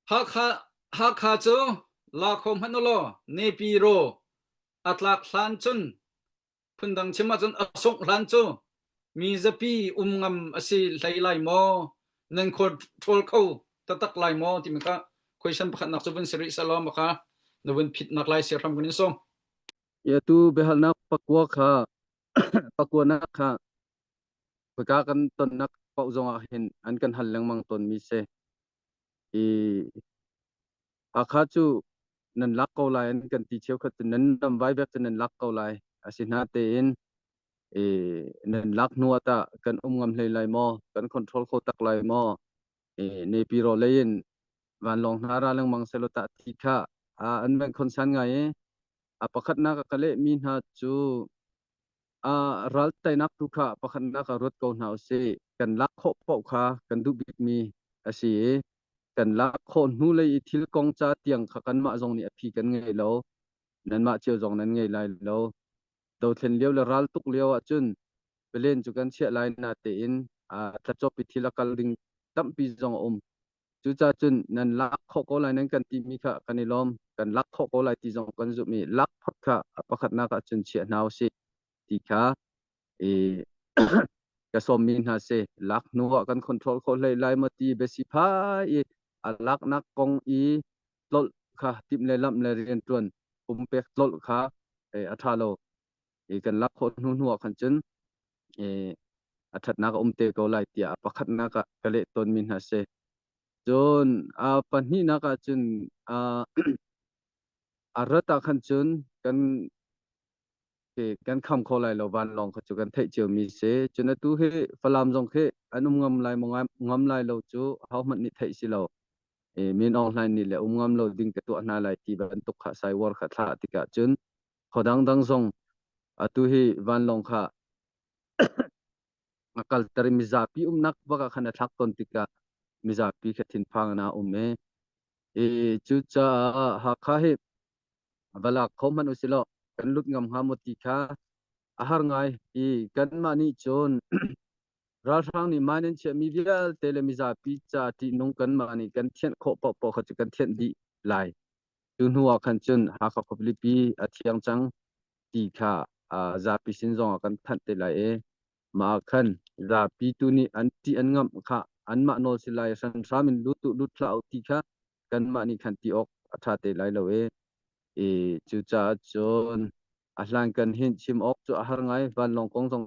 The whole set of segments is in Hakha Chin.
Hakha cu la kho hmanh u law nepi raw a tlak hlan cun phundang chim ahcun a sungh hlan cu mi zapi um ngam a si hlei lai maw nan khua ṭhawl kho taktak lai maw timi kha question pakhatnak cu vun si rih seh law makha na vun phitnak lai siahram kan in sawm ia tu biahalnak pakua kha pakuanak kha Khawika kan tonnak paoh zongah hin an kan hal lengmang tawnmi si. I Hakha cu nan lak ko lai an kan ti cheukhat cu nan ram vaivek cu nan lak ko lai asi hna tein i nan lak hnu ah tah kan um ngam hlei lai maw kan control kho tak lai maw i nepi ro lei in vanlawng hna ra lengmang selaw tah ti kha a an van concern ngai i a pakhatnak a ka lehmi hna cu ah ral teinak tu kha pakhatnak ah ruat ko hna u sih. Kan lak khawh paoh kha kan duh bikmi a si i kan lak khawh hnu lei i thil kong ca tiang kha kanmah zong nih a phi kan ngei lo. Nanmah cio zong nan ngei lai lo. Dothlen lio le ral tuk lio ahcun pelen cu kan chiah lai na tein a tlachop i thil a kal ding tampi zong a um. Cucacun nan lak khawh ko lai nan kan timi kha kan i lawm. Kan lak khawh ko lai ti zong kan zumh i lak phot kha pakhatnak ah cun chiah hna u sih ti kha i ka sawmmi hna si lak hnu ah kan control kho hlei lai maw ti besi phai i a laknak kong i tlolh kha timh le lamh le riantuan pumpek tlolh kha a ṭha lo. i kan lak khawh hnu hnu ah khan cun e, a thatnak a um te ko lai tiah pakhatnak ah ka leh tawnmi hna si cun a pahnihnak ah cun a a rat ah khan cun kan kan kham kho lai lo vanlawng kha cu kan theih cio mi si cun atu hi falam zong khi an um ngam lai ngam lai lo cu hau hmanh nih theih si lo e, min ong hlain nih le um ngam lo ding ka tuah hna lai ti bantuk kha sai war kha thla tikah cun Khodang dang zong atu hi vanlawng kha a kalter i mizapi umnak baka khan a thlak ton tikah mizapi kha thinphang na um e i cucaah hakha hi valak kho hmanh usilaw kan lut ngam hnga maw ti kha a har ngai i kanmah nih cun ralhrang nih mine an chiahmi vialte le mizapi ca ṭihnung kanmah nih kan thianh khawh paohpaoh kha cu kan thianh dih lai Cu hnu ah khan cun Hakha khualipi a thiang cang ti kha zapi sin zongah kan thanh te lai i mah ah khan zapi tu nih an ṭih an ngamh kha anmah nawl si lai hramhram in lut uh lut hlah uh ti kha kanmah nih khan ti awk a ṭha te lai lo i i cucaah cun a hlankan hin chim awk cu a har ngai vanlawng kong zong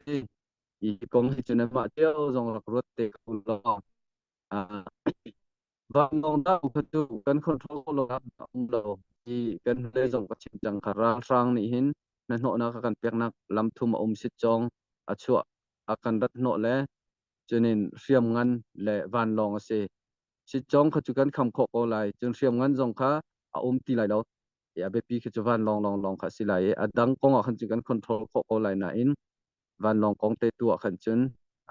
hi i kong hi cun amah cio zong rak ruat te ko law vanlawngdang khat cu kan control lo ah a um lo ti kan hnulei zong ka chim cang kha ralhrang nih hin na hnawhnak a kan peknak lam thum a um sit cong a chuah a kan rat hnawh le cunin hriam ngan le vanlawng a si sit cong kha cu kan kham khawh ko lai cun hriam ngan zong kha a um ti lai lo i a biapi khi cu vanlawng lawng lawng kha a si lai i a dang kong ah khan cu kan control khawh ko lai nain vanlawng kong te tu ah khan cun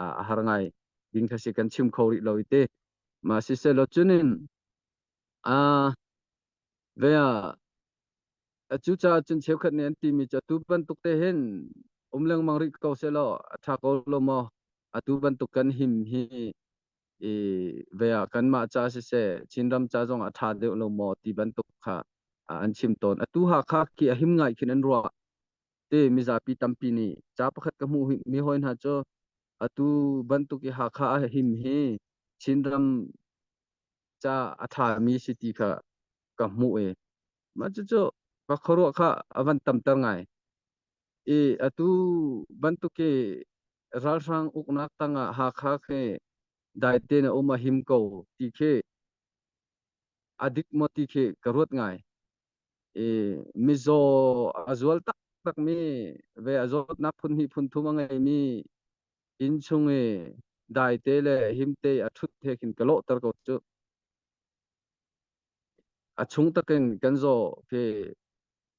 a har ngai ding kha si kan chim kho rih lo i te ma si se lo cunin a ve a cu ca cun cheukhat nih an timi cu tu bantuk te hin um lengmang rih ko se lo a tha ko lo mo atu bantuk kan him hi i ve a kan ma cha si se chin ram cha zong a tha deuh lo mo ti bantuk kha an chim ton atu ha kha ki a him ngai khin an ruah Ti mizapi tampi nih ca pakhat ka hmuh mi hawi hna cu atu bantuk i Hakha ah him hi Chinram ca a ṭha mi si ti kha ka hmuh i mah cucu ka khuaruah kha a van tamter ngai. I atu bantuk i ralhrang uknak tangah Hakha khi dai tein a um a him ko ti khi a dik maw ti khi ka ruat ngai. i mizaw a zual taktakmi ve a zawtnak phun hnih phun thum a ngeimi inn chung i daite le himte a ṭhut he khin ka lawhter ko cu a chung takin kan zaw ke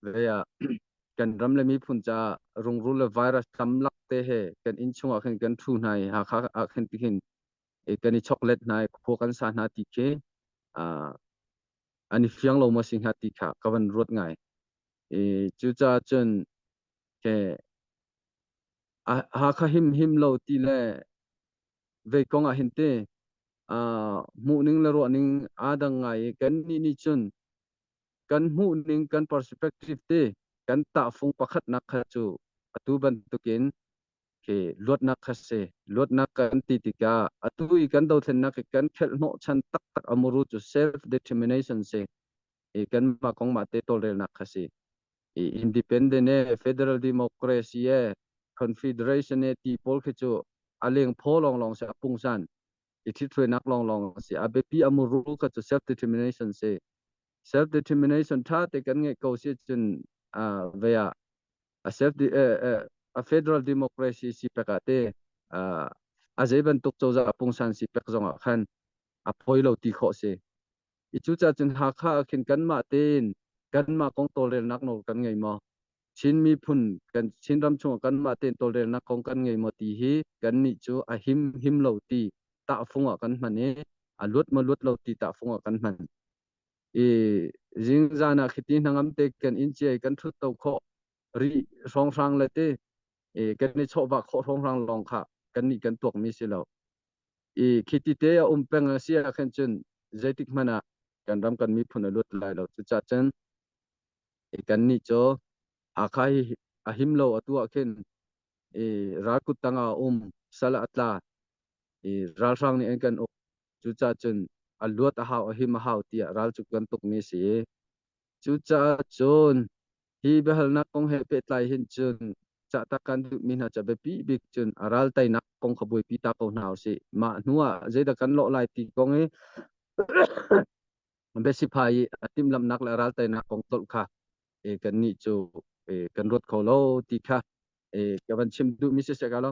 ve ah kan ram le miphun ca rungrul le virus tam lak te he kan inn chung ah khin kan ṭhu hna i hakha ah khin tihin kan i choklet hna i khua kan sa hna ti khi an i fiang lo maw si hnga ti kha ka van ruat ngai i cucaah cun ke Hakha him him lo ti le vei kong ah hin te hmuhning le ruahning aa dang ngai i kan nih nih cun kan hmuhning kan perspective te kan tahfung pakhatnak kha cu atu bantukin Okay, luatnak kha si. Luatnak kan ti tikah atu i kan dothlennak i kan khelh hnawh chan taktak amuru cu self determination si. I kan ma kong ma te tolrelnak kha si. I independent e federal democracy e confederation e ti pawl khi cu aleng pho long long se apung san. I thithuenak long long si. Abepi amuru ka cu self determination si. Self determination tha te kan nge ko si cun uh, vea a federal democracy si pek ah te a zei bantuk cozah pungsan si pek zong ah khan a poi lo ti khawh si. I cu ca cun Hakha ah khin kanmah tein kanmah kong tawlrelnak nawl kan ngei maw? Chin miphun kan Chinram chungah kanmah tein tawlrelnak kong kan ngei maw ti hi kan nih cu a him him lo ti tahfung ah kan hman i a luat ma luat lo ti tahfung ah kan hman. i zingzan ah khiti hnangam te kan in chiai kan thut to kho ri hrawnghrang le te e kan ni chawva kho hrawnghrang long kha kan ni kan tuak mi si lo i khiti te a um peng a sia khan chun zeitik mana kan ram kan mi phun a lut lai lo chu cha chen e kan ni cho akha hi a him lo atu a khin e rakut tanga um sala atla e ralhrang ni en kan um Cucacun a luat a hau, a him a hau tiah ral cu kan tukmi a si i cucaah cun hi biahalnak kong he pehtlai hin cun cahtak kan duhmi hna ca biapi bik cun a ral teinak kong kha buaipi ta ko hna usih. Mah hnuah zeidah kan lawh lai ti kong i biasiphai i a timhlamhnak le ral teinak kong tolh kha e, kannih cu e, kan ruat kho lo ti kha e, ka van chim duhmi siseh ka lo.